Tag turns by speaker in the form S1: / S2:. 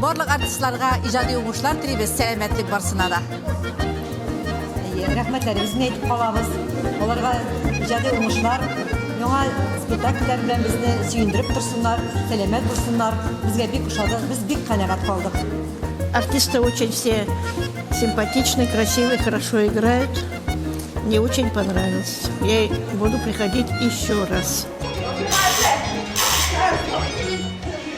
S1: Барлык артистларга иҗади уңышлар телибез, сәламәтлек барсына да. Әйе,
S2: рәхмәтләребезне әйтеп калабыз. Аларга иҗади уңышлар, яңа спектакльләр белән безне сөендереп торсыннар, сәламәт булсыннар. Безгә бик ошады, без бик канәгать калдык. Артисты
S3: очень все симпатичны, красивы, хорошо играют. Мне очень понравилось. Я буду приходить еще раз.